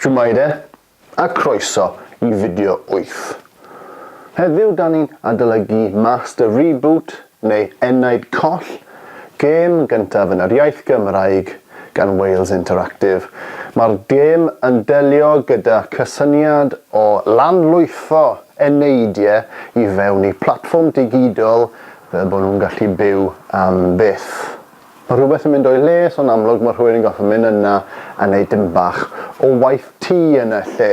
Shwmae a croeso i fideo wyth. Heddiw da ni'n adolygu Master Reboot neu Enaid Coll, gêm gyntaf yn yr iaith Gymraeg gan Wales Interactive. Mae'r gêm yn delio gyda cysyniad o lanlwytho eneidiau i fewn i platfform digidol fel bod nhw'n gallu byw am byth. Mae rhywbeth yn mynd o'i le, so'n amlwg mae rhywun yn gorfod mynd yna a neud dim bach o waith tŷ yn y lle.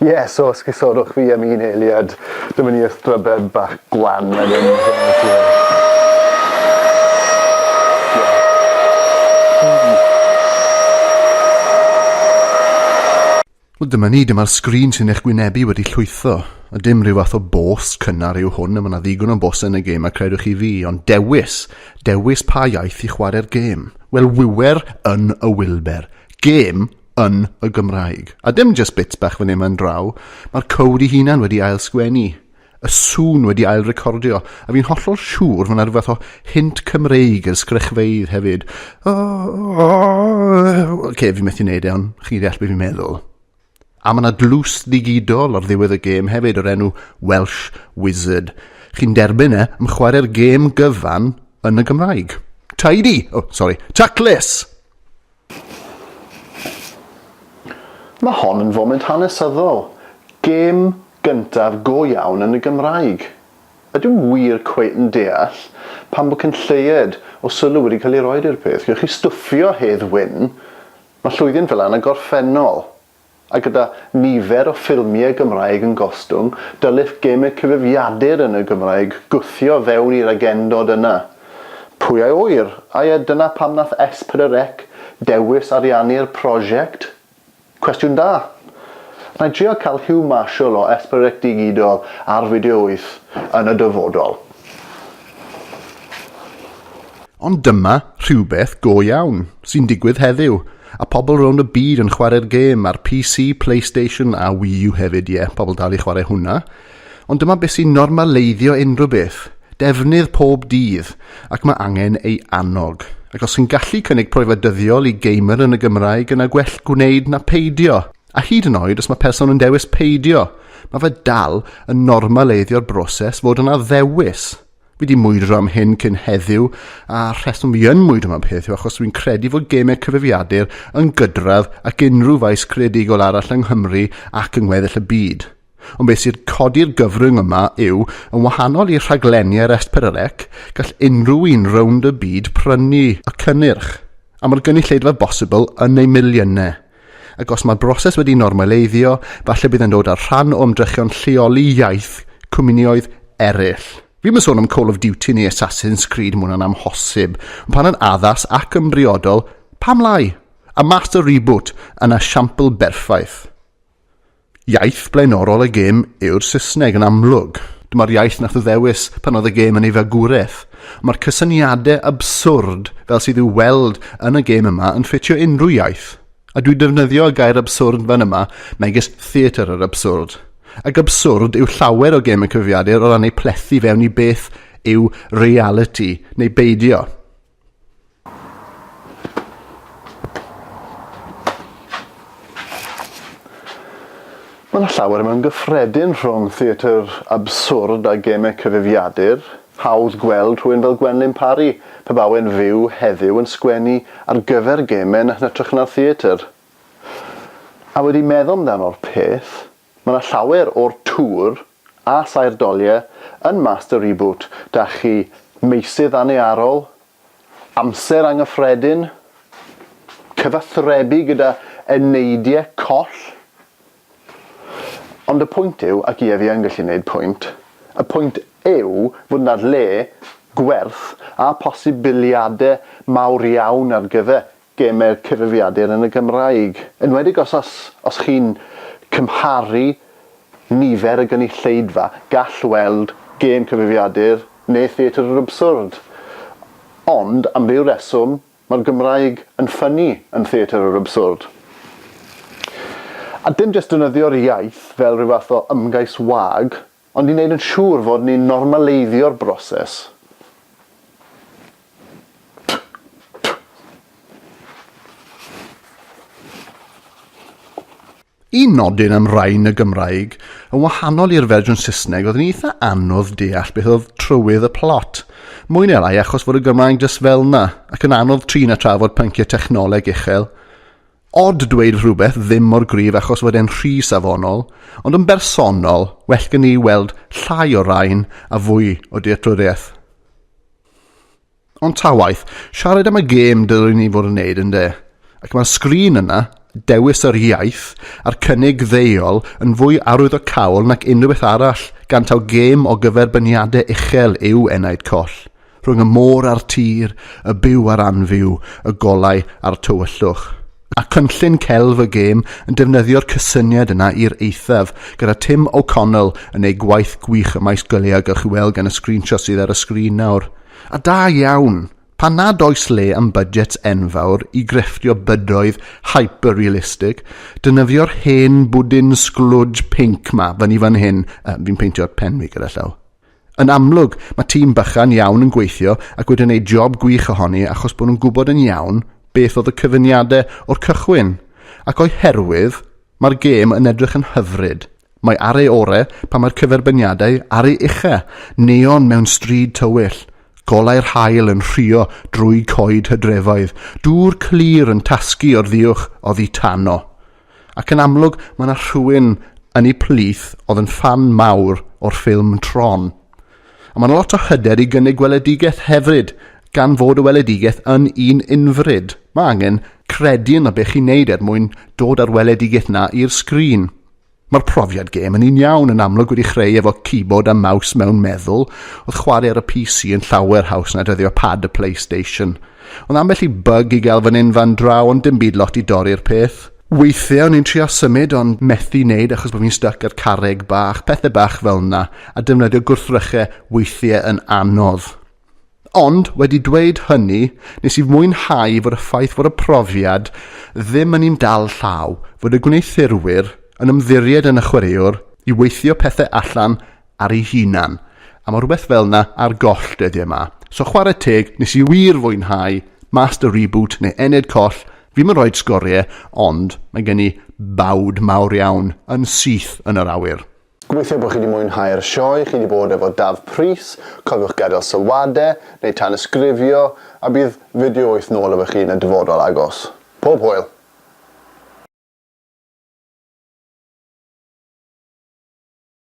Ie, so os cysodwch fi am un eiliad, dyma ni y strybed bach gwan yn mynd yn y lle. Wel dyma ni, dyma'r sgrin sy'n eich gwynebu wedi llwytho. A dim rhyw fath o bôs cynnar yw hwn, a mae yna ddigon o bôsau yn y gêm a credwch chi fi, ond dewis, dewis pa iaith i chwarae'r gêm. Wel, wiwer yn y Wilber, gêm yn y Gymraeg. A dim jyst bits bach fan hyn fan draw, mae'r cowd i hunan wedi ail sgwennu. y sŵn wedi ail recordio, a fi'n hollol siŵr fod 'na rhywbeth o hint Cymreig yr sgrychfeydd hefyd. Oce, fi methu neud e, ond chi'n deall beth fi'n meddwl. A mae yna dlws ddigidol ar ddiwedd y gêm hefyd o'r enw Welsh Wizard. Chi'n derbyn e, am chwarae'r gêm gyfan yn y Gymraeg. Tidy! O, oh, sori, taclus! Mae hon yn foment hanesyddol, gêm gyntaf go iawn yn y Gymraeg. Ydw i wir cweit yn deall pam bod cyn lleied o sylw wedi cael ei roed i'r peth? Gewch chi stwffio Hedd Wyn, mae llwydi'n fel yna gorffennol. A gyda nifer o ffilmiau Gymraeg yn gostwng, dylech gemau cyfrifiadur yn y Gymraeg gwthio fewn i'r agendod yna. Pwy a ŵyr, ai a dyna pam nath S4C dewis ariannu'r prosiect? Cwestiwn da! Nai drio cael Huw Marshall o S4C Digidol ar Fideo Wyth yn y dyfodol. Ond dyma rhywbeth go iawn sy'n digwydd heddiw, a pobl rownd y byd yn chwarae'r gêm ar PC, Playstation a Wii U hefyd, ie, pobl dal i chwarae hwnna. Ond dyma beth sy'n normaleiddio unrhyw beth, defnydd pob dydd, ac mae angen ei annog. Ac os sy'n gallu cynnig profiad dyddiol i gamer yn y Gymraeg yna gwell gwneud na peidio. A hyd yn oed os mae person yn dewis peidio, mae fe dal yn normaleiddio'r broses fod yna ddewis. Fi wedi mwydro am hyn cyn heddiw, a rheswm fi yn mwydro am y peth yw achos dwi'n credu fod gemau cyfrifiadur yn gydradd ac unrhyw faes creadigol arall yng Nghymru ac yng ngweddill y byd. Ond beth sydd codi'r gyfrwng yma yw, yn wahanol i rhaglenni ar Esperarec, gall unrhyw un rownd y byd prynu y cynnyrch, am yr gynulleidfa bosibl yn eu miliynau. Ac os mae'r broses wedi normaleiddio, falle bydd e'n dod â'r rhan o ymdrechion lleoli iaith cwmnioedd eraill. Fi'm yn sôn am Call of Duty neu Assassin's Creed, mae hwnna'n amhosib. Ond pan yn addas ac yn briodol, pam lai? A Master Reboot yn esiampl berffaith. Iaith blaenorol y gêm yw'r Saesneg yn amlwg. Dyma'r iaith nath o ddewis pan oedd y gêm yn ei fagwraeth. Mae'r cysyniade abswrd fel sydd i'w weld yn y gêm yma yn ffitio unrhyw iaith. A dwi defnyddio y gair abswrd fan yma megis theatr yr abswrd. Ac abswrd yw llawer o gêm y cyfrifiadur o ran ei plethu fewn i beth yw realiti neu beidio. Mae yna llawer mewn gyffredin rhwng theatr abswrd a gemau cyfrifiadur. Hawdd gweld rhywun fel Gwenlyn Parry, pe bai e'n fyw heddiw, yn sgwennu ar gyfer gemau yn hytrach na'r theatr. A wedi meddwl amdano'r peth, Mae 'na llawer o'r tŵr a saer doliau yn Master Reboot 'da chi, meysydd annearol, amser angyffredin, cyfathrebu gyda eneidiau coll. Ond y pwynt yw, ac ie fi yn gallu neud pwynt, y pwynt yw fod 'na le, gwerth a posibiliadau mawr iawn ar gyfer gemau'r cyfrifiadur yn y Gymraeg, enwedig os os os chi'n cymharu nifer y gynulleidfa, gall weld gêm cyfrifiadur neu Theatr yr Abswrd. Ond, am ryw reswm, mae'r Gymraeg yn ffynnu yn Theatr yr Abswrd. A dim jyst defnyddio'r iaith fel rhyw fath o ymgais wag Ond i wneud yn siŵr fod ni'n normaleiddio'r broses, Un nodyn am rain y Gymraeg, yn wahanol i'r fersiwn Saesneg, oedd yn eitha anodd deall beth oedd trywydd y plot. Mwy neu lai achos fod y Gymraeg jyst fel 'na, ac yn anodd trin a trafod pynciau technoleg uchel. Odd dweud rhywbeth ddim mor gryf achos fod e'n rhy safonol, ond yn bersonol, well gen i weld llai o rain a fwy o dealltwriaeth. Ond ta waeth, siarad am y gêm dylwn ni fod yn neud yn de? Ac mae'r sgrin yna, dewis yr iaith, a'r cynnig ddeuol yn fwy arwyddocaol nac unrhyw beth arall, gan taw gêm o gyferbyniade uchel yw Enaid Coll. rhwng y môr a'r tir, y byw a'r anfyw, y golau a'r tywyllwch. Mae cynllun Celf y Gêm yn defnyddio'r cysyniad yna i'r eithaf, gyda Tim O'Connell yn ei gwaith gwych ym maes gwyliau a gewch chi weld gan y sgrinshots sydd ar y sgrin nawr. A da iawn! Pan nad oes le am budgets enfawr i grefftio bydoedd hyper-realistic, dynyfio'r hen bwdin sglwj pinc 'ma fyny fan hyn, yy, fi'n peintio'r pen fi gyda llaw. Yn amlwg, mae tîm bychan iawn yn gweithio ac wedi wneud job gwych ohoni achos bod nhw'n gwybod yn iawn beth oedd y cyfuniadau o'r cychwyn, ac o'i herwydd, mae'r gêm yn edrych yn hyfryd. Mae ar ei ore pan mae'r cyferbyniadau ar ei ucha, neon mewn stryd tywyll, golau'r haul yn rhuo drwy coed hydrefoedd, dŵr clir yn tasgu o'r ddiuwch oddi tano. Ac yn amlwg mae 'na rhywun yn eu plith oedd yn ffan mawr o'r ffilm Tron. A mae 'na lot o hyder i gynnig gweledigaeth hefyd, gan fod y weledigaeth yn un unfryd. Mae angen credu yno be chi'n neud er mwyn dod â'r weledigaeth 'na i'r sgrin. Mae'r profiad gêm yn un iawn yn amlwg wedi chreu efo keyboard a mouse mewn meddwl, oedd chwarae ar y PC yn llawer haws na defnyddio pad y Playstation. Ond ambell i bug i gael fan hyn fan draw ond dim byd lot i dorri'r peth. Weithiau o'n i'n trio symud ond methu neud achos bod fi'n styc ar carreg bach, pethau bach fel na, a defnyddio gwrthrychau weithiau yn anodd. Ond, wedi dweud hynny, nes i fwynhau fod y ffaith fod y profiad ddim yn un dal llaw, fod y gwneuthurwyr yn ymddiried yn y chwaraewr i weithio pethau allan ar ei hunan, a ma' rhywbeth fel 'na ar goll dyddie 'ma. So chware teg, nes i wir fwynhau Master Reboot neu Ened Coll, fi'm yn rhoid sgorie, ond mae gen i bawd mawr iawn yn syth yn yr awyr. Gobeithio bod chi 'di mwynhau'r sioe chi 'di bod efo Daf Prys, cofiwch gadael sylwade, neu tanysgrifio, a bydd fideo wyth nôl efo chi yn y dyfodol agos. Pob hwyl!